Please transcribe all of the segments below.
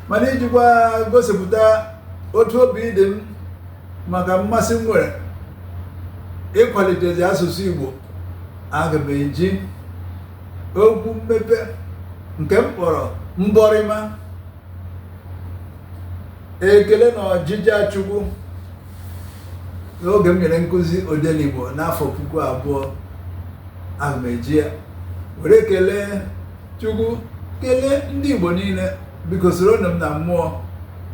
mana ijikwa gosipụta otu obi dị m maka mmasị m nwere ịkwalitezi asụsụ Igbo aga m eji okwu mmepe nke m kpọrọ mbọrịma ekele na ọjịja chukwu n'oge m nyere nkụzi odenigbo n'afọ puku abụọ aga m eji ya were kelee chukwu kelee ndị igbo niile biko soronụ m na mmụọ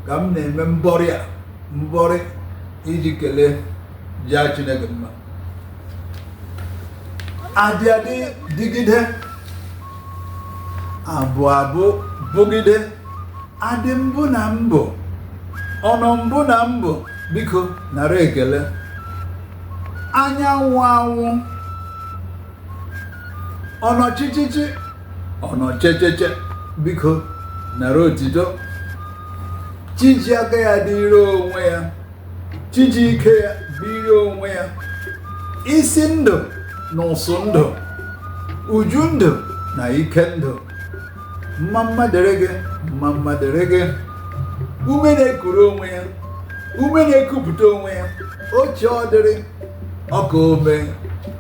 ka m na-eme mbọrị a mbọrị iji kelee jaa chineke mma adị adị dịgide abụ abụ bụgide adị mbụ na mbụ ọnọ mbụ na mbụ biko nara ekele anyanwụ anwụ ọnọchichichi ọnọchecheche biko nara otito chi ji aka ya dịrị onwe ya chi ji ike ya bụrụ onwe ya isi ndụ na ụsụ ndụ uju ndụ na ike ndụ mma mma dịrị gị mma mma dịrị gị ume na-ekuru onwe ya ume na-ekupụta onwe ya oche ọ dịrị ọka ome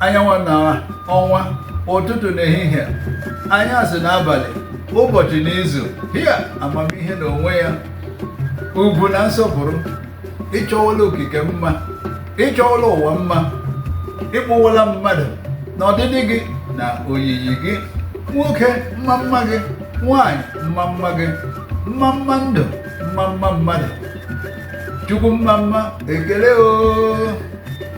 anyanwụ na ọnwa ụtụtụ na ehihie anyasị na abalị ụbọchị na izu hia amamihe na onwe ya ugwu na nsọpụrụ ị chọwala okike mma ị chọwala ụwa mma ị kpụwala mmadụ na ọdịdị gị na oyiyi gị nwoke mma mma gị nwanyị mma mma gị mma mma ndụ mma mma mmadụ chukwu mma mma ekele oo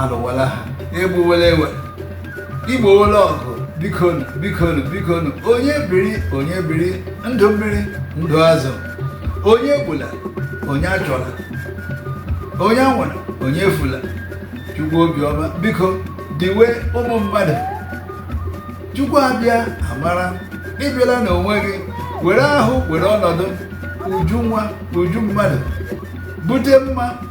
alụwala agha egbuwela ewe i gbowela ọgụ bikonu bikonu bikonu onye biri onye biri ndụ mmiri ndụ azụ onye egbula onye achọla onye anwụla onye efula chukwu obiọma biko diwe ụmụ mmadụ chukwu abịa amara ị bịala n'onwe gị were ahụ were ọnọdụ uju nwa uju mmadụ bute mma